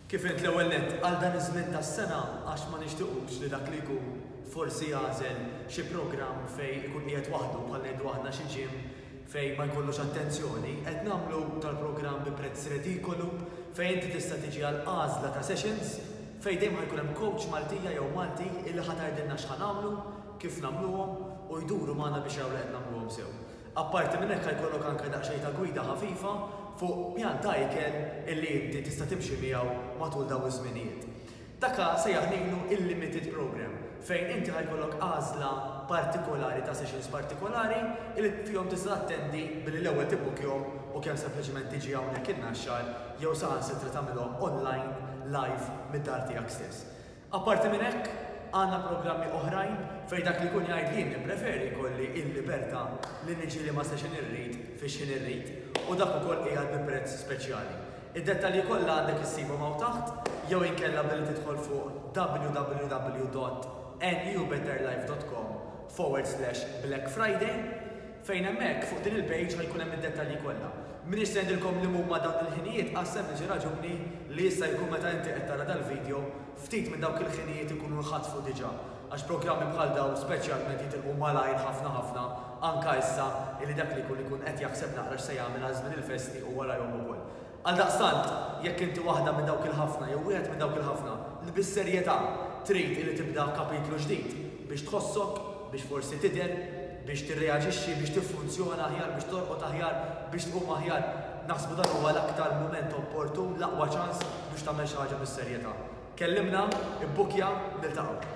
Kif għidt l-ewwel nett, għal dan iż-żmien tas-sena għax ma nixtiqux li dak li jkun forsi jagħżel xi programm fejn ikun qiegħed waħdu bħal ngħidu aħna xi gym fejn ma jkollux attenzjoni, qed nagħmlu dal-programm bi prezz redikolu fejn inti tista' tiġi għal għażla ta' sessions fejn dejjem ħa jkun hemm coach Maltija jew Malti illi ħa tgħidilna x'ħa nagħmlu, kif nagħmluhom u jduru magħna biex jaraw li qed nagħmluhom sew. Apparti minn hekk ħa jkollok anke daqsxejn ta' gwida ħafifa fuq pjan ta' ikel illi inti tista' timxi miegħu matul dawn iż-żminijiet. Dak ħa jsejjaħ ngħidlu il-limited programme fejn inti ħa jkollok għażla partikolari ta' sessions partikolari illi fihom tista' tattendi billi l-ewwel tibbukkjhom u kemm sempliċement tiġi hawnhekk in-Naxxar jew saħansitra tagħmilhom online live mid-dar tiegħek stess. Apparti minn hekk, għandna programmi oħrajn fejn dak li jkun jgħid li jien nippreferi jkolli l-libertà li niġri ma' station irrid fi x'ħin irrid u dak ukoll qiegħed bi prezz speċjali. Id-dettalji kollha għandek issibhom hawn taħt jew inkella billi tidħol fuq www.newbetterlife.com forward slash blackfriday Fejn hemmhekk, fuq din il-page ħa jkun hemm id-dettalji kollha. M'iniex se ngħidilkom li mhuma dawn il-ħinijiet għas-sempliċi raġuni li jista' jkun meta inti qed tara dal-video, ftit minn dawk il-ħinijiet ikunu nħatfu diġà għax programmi bħal dawn speċjalment jitilqu malajr ħafna ħafna anka issa illi dak li jkun ikun qed jaħseb naqra x'se jagħmel għaż-żmien il-festi u warajhom ukoll. Għaldaqstant, jekk inti waħda minn dawk il-ħafna jew wieħed minn dawk il-ħafna li bis-serjetà trid illi tibda kapitlu ġdid, biex tħossok, biex forsi tidher, biex tirreaġixxi, biex tiffunzjona aħjar, biex torqod aħjar, biex tqum aħjar, naħsbu dan huwa l-aktar mument opportun, l-aqwa ċans biex tagħmel xi ħaġa bis-serjetà. Kellimna, ibbukkja, niltaqgħu.